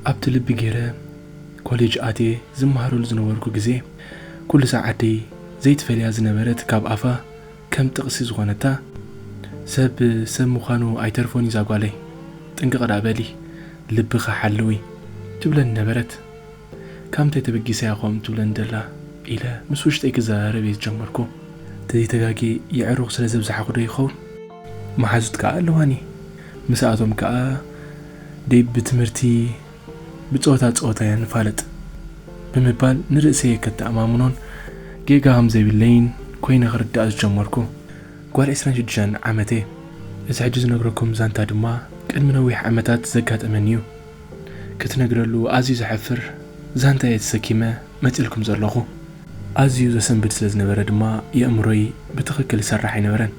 ኣብቲ ልቢ ገይረ ኮሌጅ ኣትየ ዝመሃረሉ ዝነበርኩ ግዜ ኩሉ ሳዕ ኣደይ ዘይትፈልያ ዝነበረት ካብ ኣፋ ከም ጥቕሲ ዝኾነታ ሰብ ሰብ ምዃኑ ኣይተርፎን እዩ ዛጓለይ ጥንቅቕ ደኣ በሊ ልብኺ ሓልዊ ትብለኒ ነበረት። ካምንታይ ተበጊሰ እያ ከምኡ ትብለኒ ዘላ ኢለ ምስ ውሽጠይ ክዘራረብ እየ ዝጀመርኩ። ተዘይ ተጋግየ የዕሩኽ ስለ ዘብዛሓኹ ዶ ይኸውን? መሓዙት ከኣ ኣለዋኒ። ምስኣቶም ከኣ ደይ ብትምህርቲ ብጸወታ ጸወታ እያ ንፋለጥ። ብምባል ንርእሰየ ከተኣማምኖን ጌጋ ከም ዘይብለይን ኮይነ ክርዳእ ዝጀመርኩ። ጓል ዕስራን ሽዱሻን ዓመት እየ። እዚ ሕጂ ዝነግረኩም ዛንታ ድማ ቅድሚ ነዊሕ ዓመታት ዘጋጠመኒ እዩ። ክትነግረሉ ኣዝዩ ዘሕፍር ዛንታ እየ ተሰኪመ መጺእልኩም ዘለኹ። ኣዝዩ ዘሰንብድ ስለ ዝነበረ ድማ የእምሮይ ብትኽክል ይሰርሕ ኣይነበረን።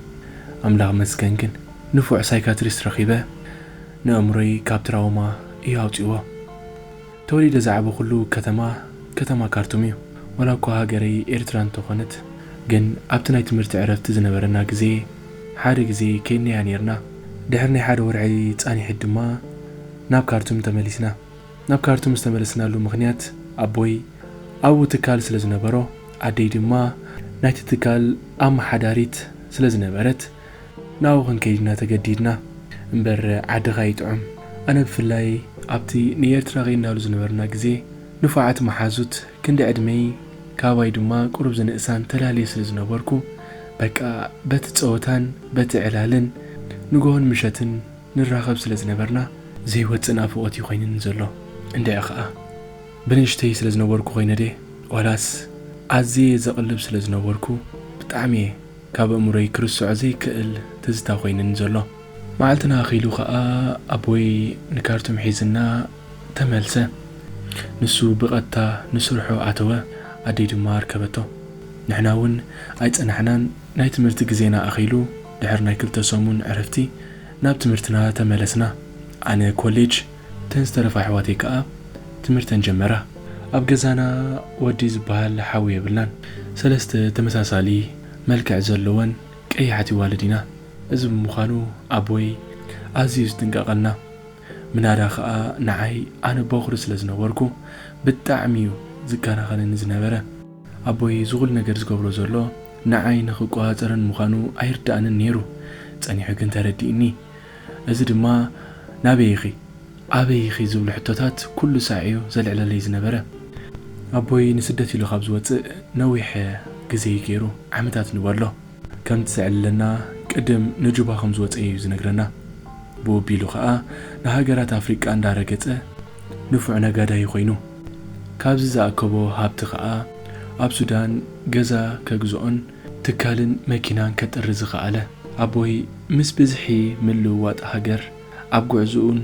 ኣምላኽ ይመስገን ግን ንፉዕ ሳይካትሪስት ረኺበ ነእምሮይ ካብ ትራውማ እዩ ኣውጺእዎ። ተወሊደ ዝዓበኹሉ ከተማ ከተማ ካርቱም እዩ። ዋላ እኳ ሃገረይ ኤርትራ እንተኾነት ግን ኣብቲ ናይ ትምህርቲ ዕረፍቲ ዝነበረና ግዜ፣ ሓደ ግዜ ኬንያ ኔርና፣ ድሕሪ ናይ ሓደ ወርሒ ጻኒሒት ድማ ናብ ካርቱም ተመሊስና። ናብ ካርቱም ዝተመለስናሉ ምኽንያት ኣቦይ ኣብኡ ትካል ስለ ዝነበሮ፣ ኣደይ ድማ ናይቲ ትካል ኣመሓዳሪት ስለ ዝነበረት ናብኡ ክንከይድ ኢና ተገዲድና። እምበር ዓድኻ ይጥዑም። ኣነ ብፍላይ ኣብቲ ንኤርትራ ኬድናሉ ዝነበርና ግዜ ንፉዓት መሓዙት ክንዲ ዕድመይ ካባይ ድማ ቁሩብ ዝንእሳን ተላልየ ስለ ዝነበርኩ በቃ በቲ ጸወታን በቲ ዕላልን ንግሆን ምሸትን ንራኸብ ስለ ዝነበርና ዘይወጽእ ናፍቖት እዩ ኮይንኒ ዘሎ። እንድዒ ከኣ ብንእሽተይ ስለ ዝነበርኩ ኮይነ ድየ ዋላስ ኣዝየ ዘቕልብ ስለ ዝነበርኩ ብጣዕሚ'የ ካብ ኣእምሮይ ክርስዖ ዘይክእል ትዝታ ኮይንኒ ዘሎ። መዓልትና ኣኺሉ ከኣ ኣቦይ ንካርቱም ሒዝና ተመልሰ። ንሱ ብቐጥታ ንስርሑ ኣተወ፣ ኣደይ ድማ ኣርከበቶ። ንሕና እውን ኣይጸናሕናን፣ ናይ ትምህርቲ ግዜና ኣኺሉ ድሕሪ ናይ ክልተ ሰሙን ዕረፍቲ ናብ ትምህርትና ተመለስና። ኣነ ኮሌጅ፣ እተን ዝተረፋ ኣሕዋተይ ከኣ ትምህርተን ጀመራ። ኣብ ገዛና ወዲ ዝበሃል ሓው የብልናን። ሰለስተ ተመሳሳሊ መልክዕ ዘለወን ቀያሕት ይዋልድ ኢና እዚ ብምዃኑ ኣቦይ ኣዝዩ ዝጥንቀቀልና ምናዳ ክኣ ንዓይ ኣነ ቦኽሪ ስለ ዝነበርኩ ብጣዕሚ እዩ ዝከናኸነኒ ዝነበረ። ኣቦይ ዝኹሉ ነገር ዝገብሮ ዘሎ ንዓይ ንኽቆጻጸረኒ ምዃኑ ኣይርድኣንን ኔሩ ጸኒሑ ግን ተረዲእኒ እዚ ድማ ናበይ ኢኺ? ኣበይ ኢኺ? ዝብሉ ሕቶታት ኩሉ ሳዕ'ዩ ዘልዕለለይ ዝነበረ። ኣቦይ ንስደት ኢሉ ካብ ዝወጽእ ነዊሕ ግዜ'ዩ ገይሩ፣ ዓመታት ንበሎ። ከምቲ ዘዕልለና ቅድም ንጁባ ከም ዝወጸ'ዩ ዝነግረና። ብኡ ኣቢሉ ከኣ ንሃገራት ኣፍሪቃ እንዳረገጸ ንፉዕ ነጋዳይ'ዩ ኮይኑ። ካብዚ ዝኣከቦ ሃብቲ ከኣ ኣብ ሱዳን ገዛ ከግዝኦን ትካልን መኪናን ከጥሪ ዝኸኣለ ኣቦይ ምስ ብዝሒ ምልውዋጥ ሃገር ኣብ ጉዕዝኡን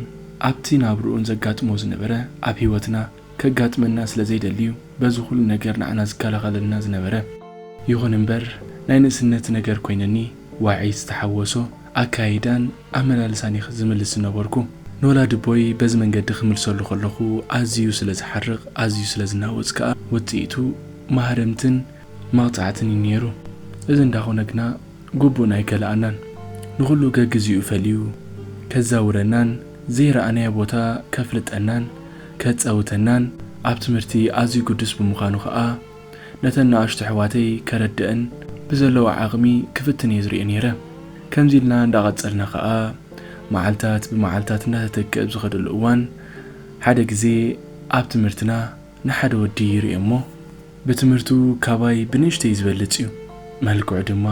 ኣብቲ ናብርኡን ዘጋጥሞ ዝነበረ ኣብ ህይወትና ከጋጥመና ስለ ዘይደሊዩ በዚ ኩሉ ነገር ንዓና ዝከላኸለልና ዝነበረ ይኹን እምበር ናይ ንእስነት ነገር ኮይነኒ ዋዒ ዝተሓወሶ ኣከያይዳን ኣመላልሳን እየ ዝምልስ ዝነበርኩ ንወላዲቦይ በዚ መንገዲ ክምልሰሉ ከለኹ ኣዚዩ ስለ ዝሓርቕ ኣዚዩ ስለ ዝናወጽ ከኣ ውጽኢቱ ማህረምትን መቕጻዕትን እዩ ነይሩ። እዚ እንዳኾነ ግና ግቡእና ኣይከልኣናን። ንኹሉ ገግዜኡ ፈልዩ ከዛውረናን ዘይረኣናዮ ቦታ ከፍልጠናን ከጻውተናን ኣብ ትምህርቲ ኣዝዩ ግዱስ ብምዃኑ ከኣ ነተን ንኣሽቱ ኣሕዋተይ ከረድእን ብዘለዎ ዓቕሚ ክፍትን እየ ዝሪኦ ነይረ። ከምዚ ኢልና እንዳቐጸልና ከኣ መዓልታት ብመዓልታት እንዳተተክእ ኣብ ዝኸደሉ እዋን ሓደ ግዜ ኣብ ትምህርትና ንሓደ ወዲ ይሪኦ እሞ፣ ብትምህርቱ ካባይ ብንእሽተይ ዝበልጽ እዩ። መልክዑ ድማ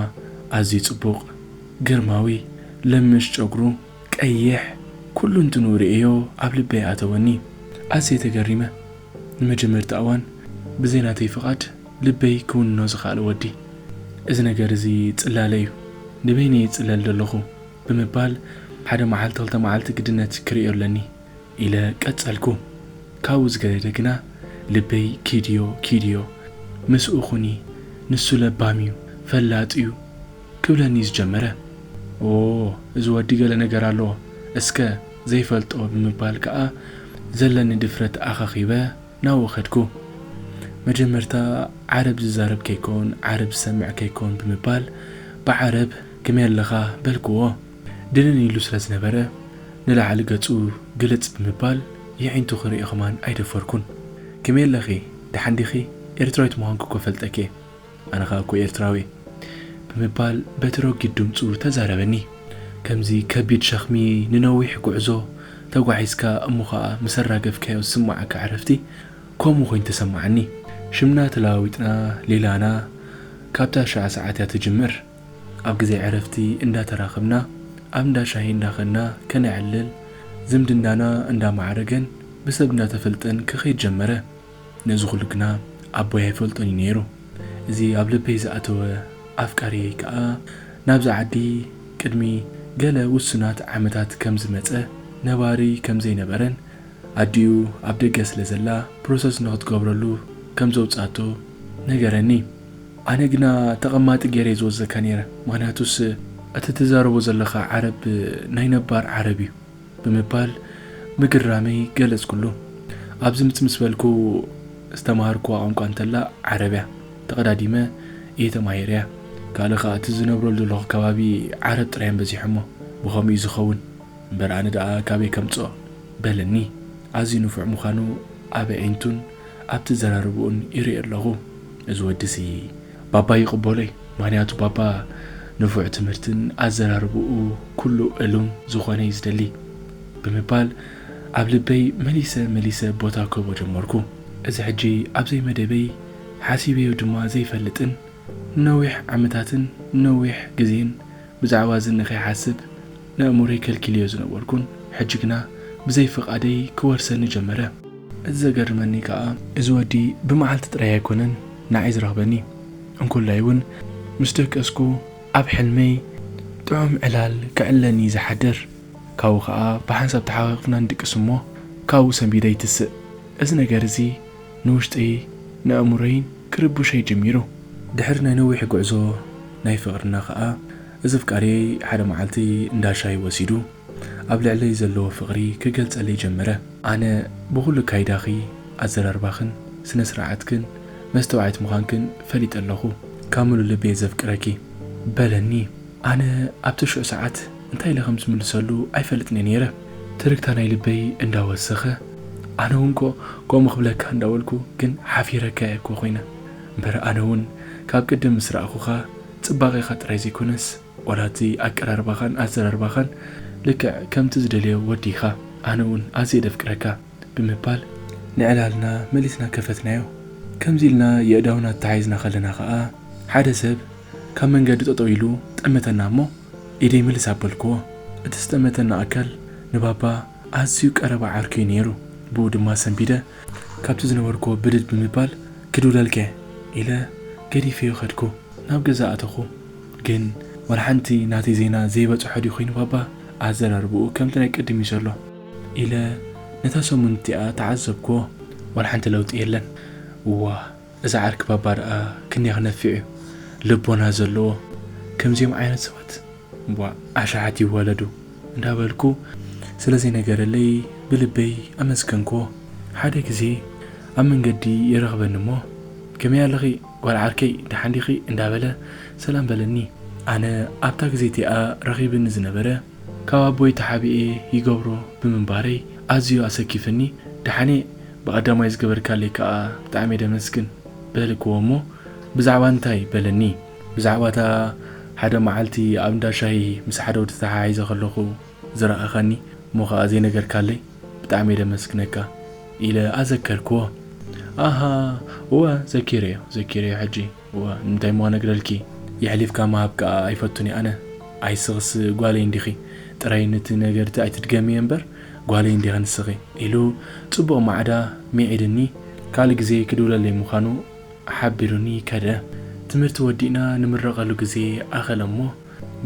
ኣዝዩ ጽቡቕ፣ ግርማዊ፣ ለምሽ ጨጉሩ፣ ቀይሕ፣ ኩሉንትንኡ ርእየዮ ኣብ ልበይ ኣተወኒ። ኣዝየ ተገሪመ። ንመጀመርታ እዋን ብዘይ ናተይ ፍቓድ ልበይ ክውንኖ ዝኸኣለ ወዲ። እዚ ነገር እዚ ጽላለ እዩ፣ ንበይነይ ይጽለል ደለኹ ብምባል ሓደ መዓልቲ ክልተ መዓልቲ ግድነት ክርእዮ ኣለኒ ኢለ ቀጸልኩ ካብኡ ዝገደደ ግና ልበይ ኪድዮ ኪድዮ ምስኡ ኩኒ ንሱ ለባም እዩ ፈላጥ እዩ ክብለኒ ዝጀመረ ኦዎ እዚ ወዲ ገለ ነገር ኣለዎ እስከ ዘይፈልጦ ብምባል ከኣ ዘለኒ ድፍረት ኣኻኺበ ናብኡ ከድኩ መጀመርታ ዓረብ ዝዛረብ ከይከውን ዓረብ ዝሰምዕ ከይከውን ብምባል ብዓረብ ክመይ ኣለኻ በልክዎ ድንን ኢሉ ስለ ዝነበረ ንላዕሊ ገጹ ግልጽ ብምባል የዒንቱ ክርእዮ ከማን ኣይደፈርኩን። ከመይ ኣለኺ ደሓን ዲኺ ኤርትራዊት ምዃንኪ እኮ ፈልጠኪ'የ ኣነ ከኣ እኮ ኤርትራዊ'የ ብምባል በቲ ረጒድ ድምጹ ተዛረበኒ። ከምዚ ከቢድ ሸኽሚ ንነዊሕ ጉዕዞ ተጓዒዝካ እሞ ከኣ ምስ ኣራገፍካዮ ዝስመዓካ ዕረፍቲ ከምኡ ኮይኑ ተሰመዓኒ። ሽምና ተለዋዊጥና ሌላና ካብታ ሽዓ ሰዓት'ያ ትጅምር። ኣብ ግዜ ዕረፍቲ እንዳ ተራኽብና ኣብ እንዳ ሻሂ እንዳ ከድና ከነዕልል ዝምድናና እንዳ ማዕረገን ብሰብ እንዳ ተፈልጠን ክኸይድ ጀመረ። ነዚ ኩሉ ግና ኣቦይ ኣይፈልጦን እዩ ነይሩ። እዚ ኣብ ልበይ ዝኣተወ ኣፍቃርየይ ከኣ ናብዛ ዓዲ ቅድሚ ገለ ውሱናት ዓመታት ከም ዝመጸ ነባሪ ከም ዘይነበረን ኣዲኡ ኣብ ደገ ስለ ዘላ ፕሮሰስ ንኽትገብረሉ ከም ዘውጽኣቶ ነገረኒ። ኣነ ግና ተቐማጢ ጌሬ ዝወዘካ ኔረ ምኽንያቱስ እቲ ትዛረቦ ዘለኻ ዓረብ ናይ ነባር ዓረብ እዩ ብምባል ምግራመይ ገለጽኩሉ ኣብዚ ምጽ ምስ በልኩ ዝተማሃርኩዋ ቋንቋ እንተላ ዓረብ እያ ተቐዳዲመ እየ ተማሂረያ ካልእ ኸኣ እቲ ዝነብረሉ ዘለኹ ከባቢ ዓረብ ጥራይ እዮም በዚሖሞ ብኸምኡ እዩ ዝኸውን እምበር ኣነ ደኣ ካበይ ከምጽኦ በለኒ ኣዝዩ ንፉዕ ምዃኑ ኣብ ኣዒንቱን ኣብ ትዘራርብኡን ይርእዮ ኣለኹ። እዚ ወዲ'ዚ ባባ ይቅበሎ እዩ ምክንያቱ ባባ ንፉዕ ትምህርትን ኣዘራርብኡ ኩሉ እሉም ዝኮነ እዩ ዝደሊ ብምባል ኣብ ልበይ መሊሰ መሊሰ ቦታ ክህቦ ጀመርኩ እዚ ሕጂ ኣብ ዘይመደበይ ሓሲበዮ ድማ ዘይፈልጥን ንነዊሕ ዓመታትን ንነዊሕ ግዜን ብዛዕባ እዚ ንኸይሓስብ ነእምሮይ ከልኪለዮ ዝነበርኩን ሕጂ ግና ብዘይ ፍቓደይ ክወርሰኒ ጀመረ። እቲ ዘገርመኒ ከኣ እዚ ወዲ ብመዓልቲ ጥራይ ኣይኮነን ንዓይ ዝረኽበኒ እንኮላይ ውን ምስ ደቀስኩ ኣብ ሕልመይ ጥዑም ዕላል ክዕልለኒ እዩ ዝሓድር። ካብኡ ከኣ ብሓንሳብ ተሓቛቒፍና ንድቅስ እሞ ካብኡ ሰንቢደ ይትስእ። እዚ ነገር እዚ ንውሽጠይ ንኣእምሮይን ክርቡሸይ ጀሚሩ። ድሕሪ ናይ ነዊሕ ጉዕዞ ናይ ፍቕርና ከኣ እዚ ኣፍቃሪየይ ሓደ መዓልቲ እንዳ ሻሂ ወሲዱ ኣብ ልዕለይ ዘለዎ ፍቕሪ ክገልጸለይ ጀመረ። ኣነ ብኹሉ ኣካይዳኺ፣ ኣዘራርባኽን፣ ስነ ስርዓትክን፣ መስተውዓይት ምዃንክን ፈሊጠ ኣለኹ። ካብ ምሉእ ልቢየ ዘፍቅረኪ። በለኒ። ኣነ ኣብቲ ሹዕ ሰዓት እንታይ ኢለ ከም ዝምልሰሉ ኣይፈልጥን'የ ነይረ። ትርግታ ናይ ልበይ እንዳ ወሰኸ፣ ኣነ'ውን'ኮ ከምኡ ክብለካ እንዳ በልኩ ግን ሓፊረካ'የ'ኮ ኮይነ። እምበር ኣነ'ውን ካብ ቅድም ምስ ረኣኹኻ ጽባቄኻ ጥራይ ዘይኮነስ ዋላ'ቲ ኣቀራርባኻን ኣዘራርባኻን ልክዕ ከምቲ ዝደልዮ ወዲ ኢኻ። ኣነ'ውን ኣዝየ ደፍቅረካ። ብምባል ንዕላልና መሊስና ከፈትናዮ። ከምዚ ኢልና የእዳውና ተተሓሒዝና ከለና ከኣ ሓደ ሰብ ካብ መንገዲ ጠጠው ኢሉ ጠመተና እሞ ኢደይ ምልስ ኣበልኩዎ። እቲ ዝጠመተና ኣካል ንባባ ኣዝዩ ቀረባ ዓርኩ'ዩ ነይሩ። ብኡ ድማ ሰንቢደ ካብቲ ዝነበርኩዎ ብድድ ብምባል ክድውለል'ከ ኢለ ገዲፈዮ ከድኩ። ናብ ገዛ ኣተኹ። ግን ዋላሓንቲ ናተይ ዜና ዘይበጽሖ ድዩ ኮይኑ ባባ ኣዘራርባኡ ከምቲ ናይ ቅድም'ዩ ዘሎ። ኢለ ነታ ሰሙን እቲኣ ተዓዘብክዎ ዋላ ሓንቲ ለውጢ የለን። እዋ እዚ ዓርኪ ባባ ደኣ ክንደይ ክነፍዕ እዩ ልቦና ዘለዎ ከምዚኦም ዓይነት ሰባት እምቧእ ኣሻሓት ይወለዱ እንዳበልኩ ስለ ዘይነገረለይ ብልበይ ኣመስገንክዎ። ሓደ ግዜ ኣብ መንገዲ ይረኽበኒ እሞ ከመይ ኣለኺ ጓል ዓርከይ ደሓን ዲኺ እንዳበለ ሰላም በለኒ ኣነ ኣብታ ግዜ እቲኣ ረኺብኒ ዝነበረ። ካብ ኣቦይ ተሓቢኤ ይገብሮ ብምንባረይ ኣዝዩ ኣሰኪፍኒ ደሓነ ብቀዳማይ ዝገበርካለይ ክኣ ብጣዕሚየ ደመስግን በልክዎ እሞ ብዛዕባ እንታይ በለኒ ብዛዕባ እታ ሓደ መዓልቲ ኣብ እንዳ ሻሂ ምስ ሓደ ወዲ ተተሓሒዘ ከለኩ ዝረኣካኒ እሞ ክኣ ዘይነገርካለይ ብጣዕሚየ ደመስግነካ ኢለ ኣዘከርክዎ ኣሃ እወ ዘኪረዮ ዘኪረዮ ሕጂ እወ እንታይ እሞ ነግረልኪ የሕሊፍካ ምሃብ ክኣ ኣይፈቱን እየ ኣነ ኣይ ስኽስ ጓለይ እንዲኺ ጥራይ ንቲ ነገርት ኣይትድገምዮ እምበር ጓለይ እንዲኺ ንስኺ ኢሉ ጽቡቕ ማዕዳ ሚዒድኒ ካልእ ግዜ ክድውለለይ ምዃኑ ሓቢሩኒ ከደ ትምህርቲ ወዲእና ንምረቐሉ ግዜ ኣኸለ እሞ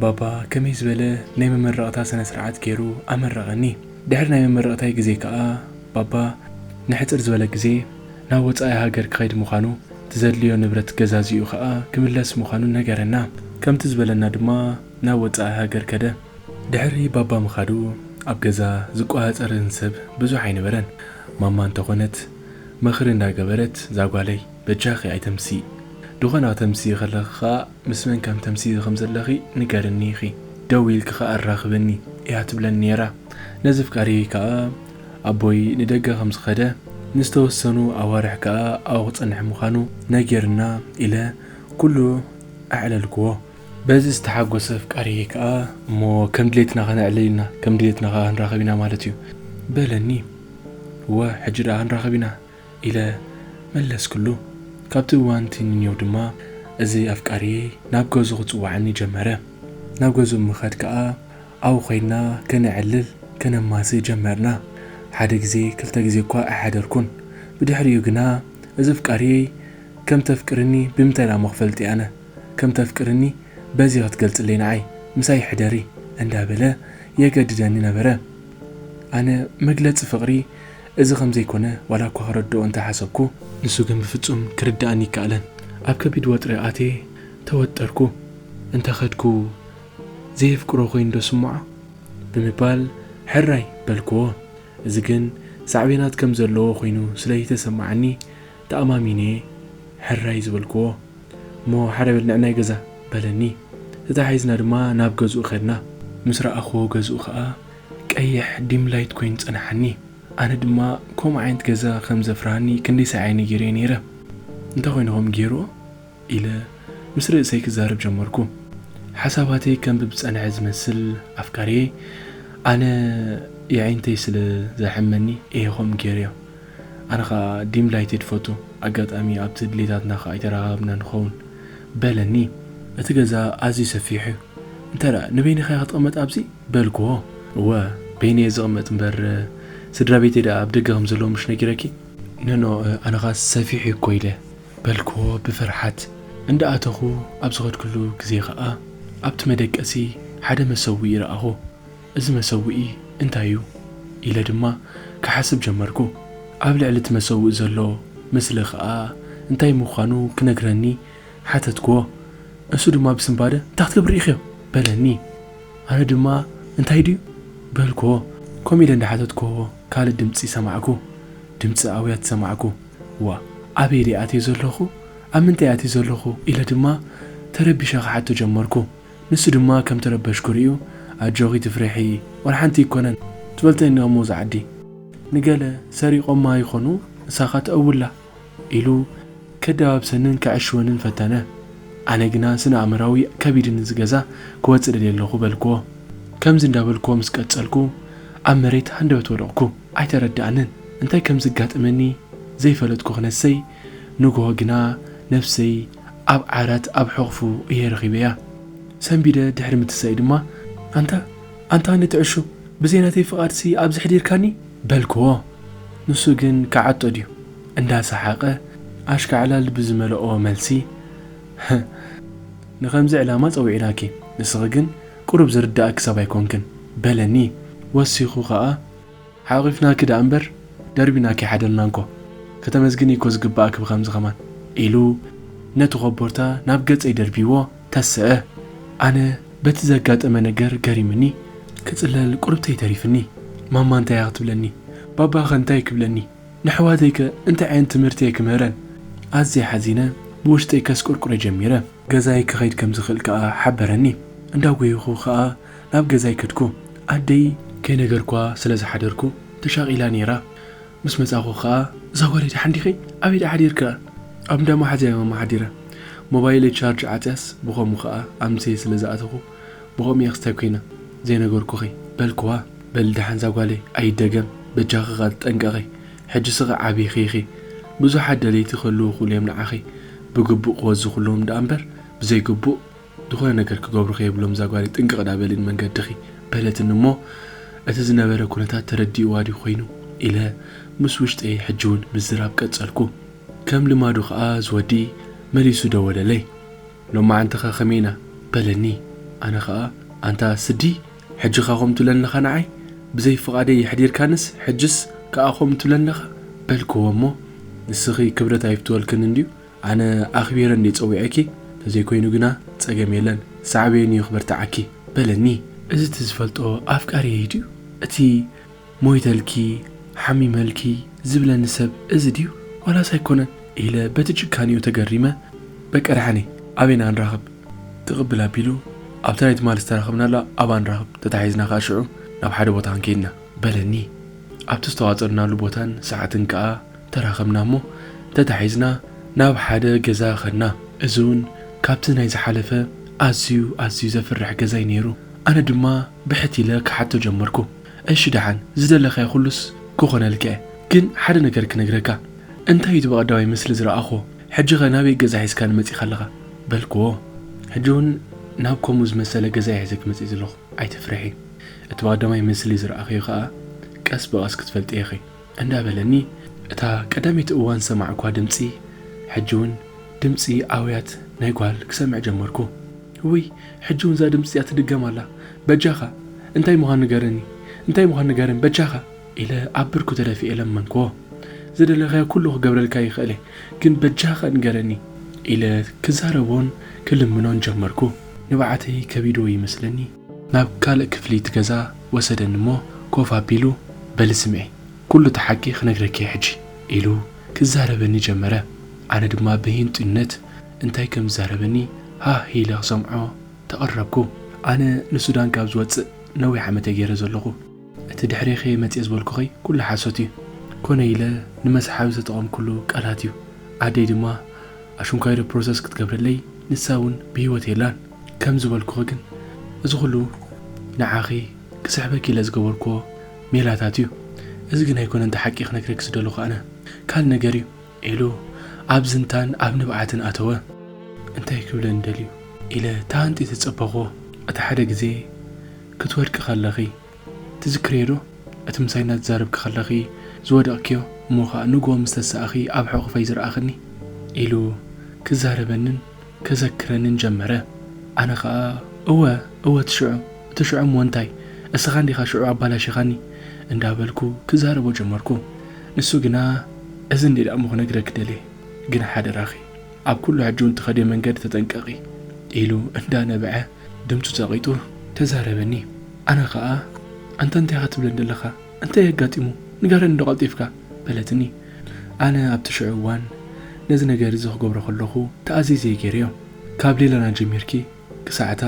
ባባ ከመይ ዝበለ ናይ መመረቕታ ስነ ስርዓት ጌሩ ኣመረቐኒ ድሕሪ ናይ መመረቕታይ ግዜ ክኣ ባባ ንሕጽር ዝበለ ግዜ ናብ ወጻኢ ሃገር ክኸይድ ምዃኑ እቲ ዘድልዮ ንብረት ገዛዚኡ ከኣ ክምለስ ምዃኑ ነገረና። ከምቲ ዝበለና ድማ ናብ ወጻኢ ሃገር ከደ። ድሕሪ ባባ ምኻዱ ኣብ ገዛ ዝቆጻጸረኒ ሰብ ብዙሕ ኣይነበረን። ማማ እንተኾነት ምኽሪ እንዳገበረት እዛ ጓለይ በጃኺ ኣይተምስዪ፣ ድኾነ ከተምስዪ ከለኺ ከኣ ምስ መን ከም ተምስዪ ከም ዘለኺ ንገርኒ ኢኺ፣ ደዊልኪ ከኣ ኣራኽብኒ እያ ትብለኒ ነይራ። ነዚ ፍቃደይ ከኣ። ኣቦይ ንደገ ከም ዝኸደ፣ ንዝተወሰኑ ኣዋርሕ ከኣ ኣብኡ ክጸንሕ ምዃኑ ነጊሩና ኢለ ኩሉ ኣዕለልክዎ። በዚ ዝተሓጎሰ ኣፍቃሪየይ ከኣ፣ እሞ ከም ድሌትና ከነዕልል ኢና፣ ከም ድሌትና ከኣ ክንራኸብ ኢና ማለት እዩ። በለኒ። እወ ሕጂ ደኣ ክንራኸብ ኢና ኢለ መለስክሉ። ካብቲ እዋን'ቲ ንኔው ድማ እዚ ኣፍቃሪየይ ናብ ገዝኡ ክጽውዓኒ ጀመረ። ናብ ገዝኡ ምኸድ ከኣ፣ ኣብኡ ዄንና ከነዕልል ከነማስእ ጀመርና። ሓደ ግዜ ክልተ ግዜ እኳ ኣይሓደርኩን። ብድሕሪኡ ግና እዚ ኣፍቃሪየይ ከም እተፍቅርኒ ብምንታይ ደኣ እሞ ክፈልጥ ኣነ? ከም እተፍቅርኒ በዚ ክትገልጽለይ ንዓይ ምሳይ ሕደሪ እንዳበለ የገድደኒ ነበረ። ኣነ መግለጺ ፍቕሪ እዚ ከም ዘይኰነ ዋላ እኳ ክረድኦ እንተ ሓሰብኩ። ንሱ ግን ብፍጹም ክርድኣኒ ኣይከኣለን። ኣብ ከቢድ ወጥሪ ኣትየ ተወጠርኩ። እንተ ከድኩ ዘየፍቅሮ ኮይኑዶ ስምዖ? ብምባል ሕራይ በልክዎ። እዚ ግን ሳዕቤናት ከም ዘለዎ ኮይኑ ስለይተሰማዓኒ ተኣማሚነ'የ ሕራይ ዝበልክዎ። እሞ ሓደ በል ንዕናይ ገዛ፣ በለኒ። ተተሓሒዝና ድማ ናብ ገዝኡ ከድና። ምስ ረኣኽዎ ገዝኡ ከኣ ቀይሕ ዲም ላይት ኮይኑ ጸንሓኒ። ኣነ ድማ ከምኡ ዓይነት ገዛ ከም ዘፍርሃኒ ክንደይ ሳዕ'የ ነጊረዮ ነይረ። እንታይ ኮይኑ ከም ገይርዎ? ኢለ ምስ ርእሰይ ክዛረብ ጀመርኩ። ሓሳባተይ ከንብብ ዝጸንሐ ዝመስል ኣፍቃርየይ ኣነ የዒንተይ ስለ ዘሕመኒ እየ ከምኡ ገይረዮ። ኣነ ከኣ ዲም ላይትድ ይፈቱ ኣጋጣሚ ኣብቲ ድሌታትና ከኣ ኣይተራኻኸብናን ንኸውን። በለኒ። እቲ ገዛ ኣዝዩ ሰፊሕ'ዩ። እንተ ንበይንኻ'ያ ክትቕመጥ ኣብዚ? በልክዎ። እወ በይነይ እየ ዝቕመጥ እምበር ስድራቤተይ ደኣ ኣብ ደገ ከም ዘለዉ ምሽ ነጊረኪ? ኖኖእ ኣነ ከኣ ሰፊሕ'ዩ እኮ ኢለ በልክዎ ብፍርሓት እንዳ ኣተኹ ኣብ ዝኸድክሉ ግዜ ኸኣ ኣብቲ መደቀሲ ሓደ መሰውኢ ረኣኹ እዚ መሰውኢ እንታይ እዩ ኢለ ድማ ክሓስብ ጀመርኩ ኣብ ልዕሊ እቲ መሰውኢ ዘሎ ምስሊ ኸኣ እንታይ ምዃኑ ክነግረኒ ሓተትክዎ እሱ ድማ ብስንባደ እንታይ ክትገብር ርኢኽዮ በለኒ ኣነ ድማ እንታይ ድዩ በልክዎ ከምኡ ኢለ እንዳ ሓተትክዎ ካልእ ድምጺ ሰማዕኩ ድምጺ ኣውያት ሰማዕኩ። ዋእ ኣበይ ድየ ኣትየ ዘለኹ ኣብ ምንታይ ኣትየ ዘለኹ ኢለ ድማ ተረቢሸ ክሓቶ ጀመርኩ ንሱ ድማ ከም ተረበሽኩ ሪኡ ኣጆኺ ኣይትፍርሒ ዋላ ሓንቲ ኣይኮነን ትበልተኒ ኣሞ እዛ ዓዲ ንገለ ሰሪቆማ ይኾኑ ንሳኻ ተእውላ ኢሉ ከደባብሰንን ከዐሽወንን ፈተነ ኣነ ግና ስነ ኣእምራዊ ከቢድኒ እዚ ገዛ ክወጽእ ደልየ ኣለኹ በልክዎ ከምዚ እንዳበልክዎ ምስ ቀጸልኩ ኣብ መሬት ሃንደበት ወደቕኩ ኣይተረደኣንን እንታይ ከም ዝጋጥመኒ ዘይፈለጥኩ ክነሰይ ንግሆ ግና ነብሰይ ኣብ ዓራት ኣብ ሕቕፉ እየ ረኺበያ። ሰንቢደ ድሕሪ ምትሳእይ ድማ። ኣንታ ኣንታ ነቲ ዕሹ ብዘይ ናተይ ፍቓድሲ ኣብዚ ኣሕዲርካኒ? በልክዎ። ንሱ ግን ክዓጦ ድዩ እንዳ ሰሓቐ ኣሽካዕላል ብዝመልኦ መልሲ። ንኸምዚ ዕላማ ጸዊዕናኪ ንስኺ ግን ቁሩብ ዝርደኣኪ ሰብ ኣይኮንክን። በለኒ። ወሲኹ ከኣ። ሓቒፍናኪ ደኣ እምበር ደርቢናኪ ኣይሓደርናን እኮ ከተመስግኒ እኮ ዝግበኣኪ ብከምዚ ከማን ኢሉ ነቲ ኮቦርታ ናብ ገጸይ ደርቢይዎ ተሰእ። ኣነ በቲ ዘጋጠመ ነገር ገሪሙኒ ክጽለል ቁርብተይ ተሪፍኒ ማማ እንታይ እያ ክትብለኒ ባባ ከ እንታይ ክብለኒ ነሕዋተይ ከ እንታይ ዓይነት ትምህርቲ እየ ክምህረን ኣዝየ ሓዚነ ብውሽጠይ ከስቁርቁረ ጀሚረ። ገዛይ ክኸይድ ከም ዝኽእል ከኣ ሓበረኒ። እንዳጎየኹ ከኣ ናብ ገዛይ ከድኩ። ኣደይ። ከይነገርኩዋ ስለ ዝሓደርኩ ተሻቒላ ነይራ። ምስ መጻኹ ከኣ። እዛ ጓለይ ደሓን ዲኺ? ኣበይ ደኣ ሓዲርኪ? ኣብ እንዳ መሓዝያ'የ ማማ ሓዲረ። ሞባይለይ ቻርጅ ዓጽያስ ብኸምኡ ከኣ ኣምስየ ስለ ዝኣተኹ ብኸምኡ'የ ክስታይ ኮይነ ዘይነገርኩኺ። በልኩዋ። በሊ ደሓን እዛ ጓለይ ኣይደገም በጃኺ ከኣ ተጠንቀቒ። ሕጂ ስቀ ዓቢኪ ኢኪ ብዙሓት ደለይቲ ክህልዉ ይክእሉ እዮም ንዓኪ ብግቡእ ክወዝክሎም ድኣ እምበር ብዘይ ግቡእ ዝኮነ ነገር ክገብሩኪ የብሎም እዛ ጓለይ ጥንቅቅ ድኣ በሊ ንመንገድኪ በለትኒ እሞ እቲ ዝነበረ ኩነታት ተረዲእዋ ድዩ ኮይኑ ኢለ ምስ ውሽጠይ ሕጂ ውን ምዝራብ ቀጸልኩ ከም ልማዱ ከኣ ዝወዲ መሊሱ ደወለለይ ሎማዓንቲኸ ከመይ ኢና? በለኒ። ኣነ ኸኣ ኣንታ ስዲ ሕጂኻ ከምኡ ትብለኒ ኣለኻ ንዓይ? ብዘይ ፍቓደይ የሕዲርካንስ ሕጅስ ከኣ ከምኡ ትብለኒ ኣለኻ? በልክዎ እሞ ንስኺ ክብረት ኣይፍትወልክን እንድዩ ኣነ ኣኽቢረ እንድየ ጸዊዐኪ ተዘይኮይኑ ግና ጸገም የለን ሳዕቤኑ እዩ ክበርትዓኪ በለኒ። እዚ እቲ ዝፈልጦ ኣፍቃሪየይ ድዩ እቲ? ሞይተልኪ ሓሚመልኪ ዝብለኒ ሰብ እዚ ድዩ ዋላስ ኣይኮነን ኢለ በቲ ጭካኔኡ ተገሪመ በቃ ደሓነይ ኣበይና ንራኸብ ትቕብል ኣቢሉ ኣብታ ናይ ትማሊ ዝተራኸብናላ ኣብኣ ንራኸብ ተታሒዝና ከኣ ሽዑ ናብ ሓደ ቦታ ክንከይድ ኢና በለኒ ኣብቲ ዝተዋጠርናሉ ቦታን ሰዓትን ከኣ ተራኸብና እሞ ተታሒዝና ናብ ሓደ ገዛ ከድና እዚውን ካብቲ ናይ ዝሓለፈ ኣዝዩ ኣዝዩ ዘፍርሕ ገዛዩ ነይሩ ኣነ ድማ ብሕት ኢለ ክሓቶ ጀመርኩ። እሺ ደሓን ዝደለካዮ ኩሉስ ክኮነልካ እየ ግን ሓደ ነገር ክነግረካ እንታይ እዩ እቲ በቀዳማይ ምስሊ ዝረኣክዎ ሕጂ ከ ናበይ ገዛ ሒዝካኒ መጺካ ኣለካ በልክዎ ሕጂ ውን ናብ ኮምኡ ዝመሰለ ገዛ እየ ሒዘኪ መጺኢ ዘለኩ ኣይትፍርሒ እቲ በቀዳማይ ምስሊ ዝረኣክዮ ከኣ ቀስ ብቀስ ክትፈልጥዮ ኢኪ እንዳ በለኒ እታ ቀዳመይቲ እዋን ዝሰማዕኩዋ ድምጺ ሕጂ ውን ድምጺ ኣውያት ናይ ጓል ክሰምዕ ጀመርኩ እውይ ሕጂ ውን እዛ ድምጺ እዚኣ ትድገም ኣላ በጃኻ እንታይ ምዃኑ ንገረኒ እንታይ ምዃኑ ንገረኒ በጃኻ ኢለ ኣብ ብርኩ ተደፊኤ ለመንኩዎ ዝደለኻዮ ኩሉ ክገብረልካ ይኽእለ ግን በጃኻ ንገረኒ ኢለ ክዛረቦን ክልምኖን ጀመርኩ ንብዓተይ ከቢድዎ ይመስለኒ። ናብ ካልእ ክፍሊ እቲ ገዛ ወሰደኒ እሞ ኮፍ ኣቢሉ በሊ ስምዒ ኩሉ እቲ ሓቂ ክነግረኪ'የ ሕጂ ኢሉ ክዛረበኒ ጀመረ። ኣነ ድማ ብህንጡይነት እንታይ ከም ዝዛረበኒ ሃህ ኢለ ክሰምዖ ተቐረብኩ። ኣነ ንሱዳን ካብ ዝወጽእ ነዊሕ ዓመት'የ ገይረ ዘለኹ። እቲ ድሕሬኺ'የ መጽየ ዝበልኩኺ ኩሉ ሓሶት'ዩ። ኮነ ኢለ ንመስሓቢ ዝተጠቐምኩሉ ቃላት'ዩ። ኣደይ ድማ ኣሽንኳይዶ ፕሮሰስ ክትገብረለይ ንሳ'ውን ብህይወት የላን። ከም ዝበልኩኺ ግን እዚ ኹሉ ንዓኺ ክስሕበኪ ኢለ ዝገበርክዎ ሜላታት እዩ። እዚ ግን ኣይኮነን እቲ ሓቂ ክነግረኪ ዝደለኹ ኣነ። ካልእ ነገር እዩ። ኢሉ ኣብ ዝንታን ኣብ ንብዓትን ኣተወ። እንታይ ክብለኒ ደልዩ? ኢለ ተሃንጢ ተጸበኹዎ። እቲ ሓደ ግዜ ክትወድቂ ከለኺ። ትዝክርዮዶ እቲ ምሳይ እናተዛረብኪ ከለኺ ዝወደቕክዮ እሞ ኸኣ ንግሆ ምስ ተሳእኺ ኣብ ሕቑፈይ ዝረኣኽኒ? ኢሉ ክዛረበንን ከዘክረንን ጀመረ። ኣነ ኸኣ እወ እወ እቲ ሽዑ እቲ ሽዑ እሞ እንታይ እስኻ እንዲኻ ሽዑ ኣባላሺኻኒ እንዳበልኩ ክዛረቦ ጀመርኩ። ንሱ ግና እዚ እንዲየ ደኣሞ ክነግረኪ ደልየ ግን ሓደራኺ ኣብ ኩሉ ሕጂውን ትኸድዮ መንገዲ ተጠንቀቒ ኢሉ እንዳነበዐ ድምጹ ጸቒጡ ተዛረበኒ። ኣነ ኸኣ ኣንታ እንታይ ኢኻ ትብለኒ ዘለኻ? እንታይ እዩ ኣጋጢሙ? ንገረኒዶ ቀልጢፍካ? በለትኒ። ኣነ ኣብቲ ሽዑ እዋን ነዚ ነገር እዚ ክገብሮ ከለኹ ተኣዚዘ እየ ገይረዮ። ካብ ሌላና ጀሚርኪ ክሳዕ እታ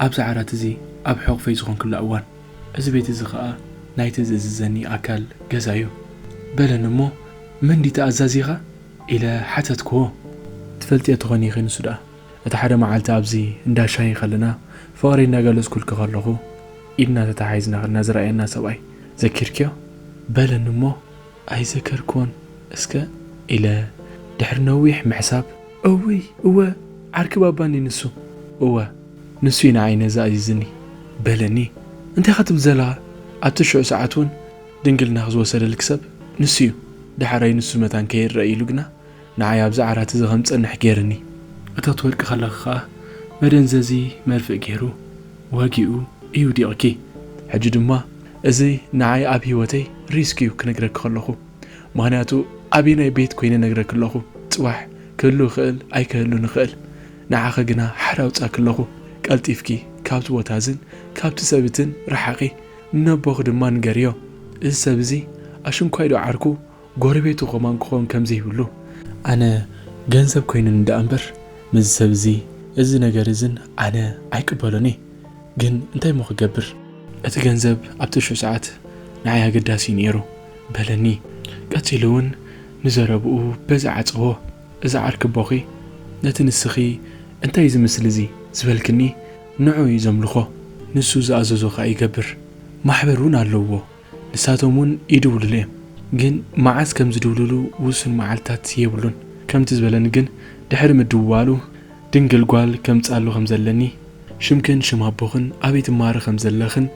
ኣብዚ ዓራት እዚ ኣብ ሕቝፈይ ዝኾንክላ እዋን። እዚ ቤት እዚ ኸኣ ናይቲ ዝእዝዘኒ ኣካል ገዛ እዩ። በለኒ እሞ መን ድዩ ተኣዛዚኻ? ኢለ ሓተትክዎ። ትፈልጥዮ ትዀኒ ኢኺ ንሱ ደኣ እቲ ሓደ መዓልቲ ኣብዚ እንዳ ሻሂ ከለና ፍቕረይ እንዳገለጽኩልኪ ከለኹ ኢድና ተታሓሒዝና ከለና ዝረኣየና ሰብኣይ ዘኪርክዮ? በለኒ እሞ ኣይዘከርክዎን እስከ ኢለ ድሕሪ ነዊሕ ምሕሳብ። እውይ እወ ዓርኪ ባባ እንድዩ ንሱ። እወ ንሱ እዩ ንዓይ ነዚ ኣዚዝኒ በለኒ። እንታይ ኢኻ ትብል ዘለኻ ኣብቲ ሽዑ ሰዓት እውን ድንግልናኺ ዝወሰደልኪ ሰብ ንሱ እዩ ደሓራይ ንሱ መታን ከይረኣ ኢሉ ግና ንዓይ ኣብዚ ዓራት እዚ ከም ዝጸንሕ ጌርኒ። እታ ትወድቂ ከለኺ ከኣ መደንዘዚ መርፍእ ጌሩ ወጊኡ እዩ ዲቕኪ። ሕጂ ድማ እዚ ንዓይ ኣብ ሂወተይ ሪስክ እዩ ክነግረኪ ከለኹ። ምኽንያቱ ኣበየናይ ቤት ኮይነ ነግረኪ ኣለኹ ጽባሕ ክህሉ ይኽእል ኣይክህሉን ይኽእል። ንዓኺ ግና ሓራ ኣውጻኪ ኣለኹ። ቀልጢፍኪ ካብቲ ቦታ እዝን ካብቲ ሰብ እትን ርሓቒ። ንነቦኺ ድማ ንገርዮ እዚ ሰብ እዚ ኣሽንኳይ ዶ ዓርኩ ጎረቤቱ ከማን ክኾን ከምዘይብሉ። ኣነ ገንዘብ ኮይኑኒ ደኣ እምበር ምስዚ ሰብ እዚ እዚ ነገር እዝን ኣነ ኣይቅበሎን እየ ግን እንታይ እሞ ክገብር። እቲ ገንዘብ ኣብቲ ሽዑ ሰዓት ንዓይ ኣገዳሲ እዩ ነይሩ በለኒ ቀጺሉ እውን ንዘረብኡ በዚ ዓጸዎ እዚ ዓርኪ ኣቦኺ ነቲ ንስኺ እንታይ እዚ ምስሊ እዚ ዝበልክኒ ንዕኡ እዩ ዘምልኾ ንሱ ዝኣዘዞ ከኣ ይገብር ማሕበር እውን ኣለውዎ ንሳቶም እውን ይድውሉሉ እዮም፣ ግን መዓስ ከም ዝድውሉሉ ውሱን መዓልትታት የብሉን። ከምቲ ዝበለኒ ግን ድሕሪ ምድውዋሉ ድንግል ጓል ከምጽኣሉ ከም ዘለኒ፣ ሽምክን ሽም ኣቦኽን ኣበይ ትመሃሪ ከም ዘለኽን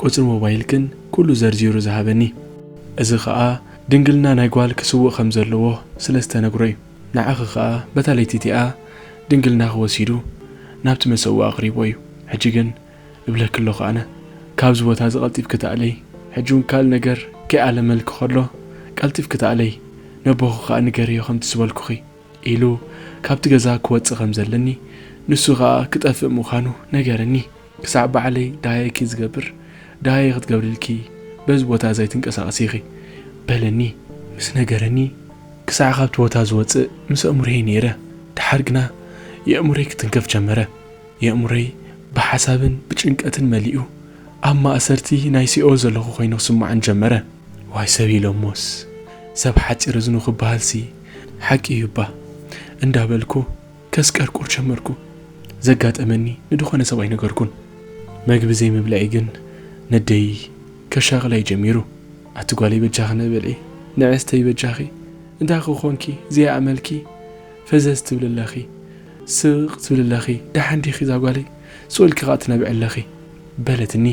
ቁጽሪ ሞባይልክን ኩሉ ዘርዚሩ ዝሃበኒ። እዚ ከኣ ድንግልና ናይ ጓል ክስውእ ከም ዘለዎ ስለ ዝተነግሮ እዩ። ንዓኺ ከኣ በታ ለይቲ እቲኣ ድንግልናኺ ወሲዱ ናብቲ መሰውኢ ኣቕሪቦ እዩ። ሕጂ ግን እብለኪ ኣለኹ ኣነ ካብዚ ቦታ እዚ ቀልጢፍኪ ተኣለዪ ሕጂ ውን ካልእ ነገር ከይኣለመልኪ ከሎ ቀልጢፍኪ ተኣለዪ ነቦኺ ከኣ ንገርዮ ከምቲ ዝበልኩኺ ኢሉ ካብቲ ገዛ ክወጽእ ከም ዘለኒ ንሱ ከኣ ክጠፍእ ምዃኑ ነገረኒ ክሳዕ ባዕለይ ደሃየኪ ዝገብር ደሃየ ክትገብርልኪ በዚ ቦታ እዚ ኣይትንቀሳቐሲ ኢኺ በለኒ ምስ ነገረኒ ክሳዕ ካብቲ ቦታ ዝወጽእ ምስ ኣእምሮየይ ነይረ ደሓር ግና የእምሮይ ክትንከፍ ጀመረ። የእምሮይ ብሓሳብን ብጭንቀትን መሊኡ ኣብ ማእሰርቲ ናይ ሲኦል ዘለኹ ኮይኑ ክስምዓኒ ጀመረ። ዋይ ሰብ ኢሎሞስ ሰብ ሓጺር እዝኑ ክበሃልሲ ሓቂ እዩ'ባ እንዳበልኩ ከስቀርቁር ጀመርኩ። ዘጋጠመኒ ንድኾነ ሰብ ኣይነገርኩን። መግቢ ዘይምብልዐይ ግን ነደይ ከሻቕላ'ዩ ጀሚሩ። ኣቲ ጓለይ በጃኺ ንብልዒ ንዕስተይ በጃኺ እንታይ ክኾንኪ ዘይኣመልኪ ፈዘዝ ትብሊ ኣለኺ። ስቕ ትብሊ ኣለኺ፣ ደሓን ዲኺ ዛጓለይ? ስእልኪ ኸኣ ትነብዒ ኣለኺ። በለትኒ።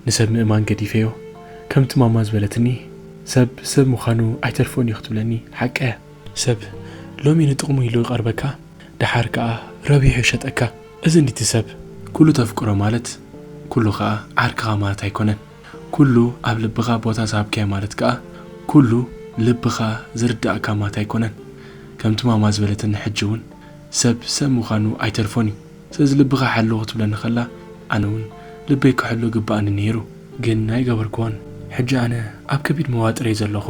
ንሰብ ምእማን ገዲፈዮ። ከምቲ ማማ ዝበለትኒ፣ ሰብ ሰብ ምዃኑ ኣይተርፎን እዩ ክትብለኒ ሓቃ እያ። ሰብ ሎሚ ንጥቕሙ ኢሉ ይቐርበካ፣ ደሓር ከኣ ረቢሑ ይሸጠካ። እዚ እንድዩ እቲ ሰብ። ኩሉ ተፍቅሮ ማለት ኩሉ ኸኣ ዓርክኻ ማለት ኣይኮነን። ኩሉ ኣብ ልብኻ ቦታ ዝሃብካዮ ማለት ከኣ ኩሉ ልብኻ ዝርደኣካ ማት ኣይኮነን። ከምቲ ማማ ዝበለትኒ ሕጂ ውን ሰብ ሰብ ምዃኑ ኣይተርፎን ዩ። ስለዚ ልብኻ ሓሉ ክትብለኒ ከላ ኣነ ውን ልበይ ክሕሉ ይግበኣኒ ነይሩ። ግን ኣይገበርክዎን። ሕጂ ኣነ ኣብ ከቢድ መዋጥር እየ ዘለኹ።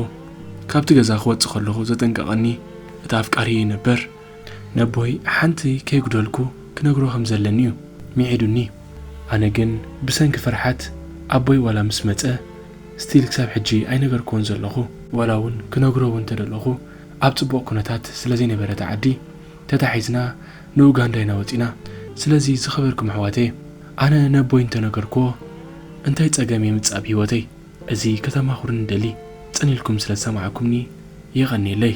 ካብቲ ገዛ ክወጽእ ከለኹ ዘጠንቀቐኒ እቲ ኣፍቃሪየይ ነበር። ነቦይ ሓንቲ ከይጉደልኩ ክነግሮ ከም ዘለኒ እዩ ምዒዱኒ ኣነ ግን ብሰንኪ ፍርሓት ኣቦይ ዋላ ምስ መጸ ስቲል ክሳብ ሕጂ ኣይነገርክዎን ዘለኹ። ዋላ ውን ክነግሮ ውን ተደለኹ ኣብ ጽቡቕ ኩነታት ስለ ዘይነበረ እታ ዓዲ ተታሒዝና ንኡጋንዳ ኢና ወጺና ስለዚ ዝኸበርኩም ኣሕዋተየ ኣነ ነቦይ እንተ ነገርክዎ እንታይ ጸገም የምጽእ ኣብ ሂወተይ እዚ ከተማኹሩኒ ደሊ ጽን ኢልኩም ስለ ዝሰማዕኩምኒ የቐንየለይ።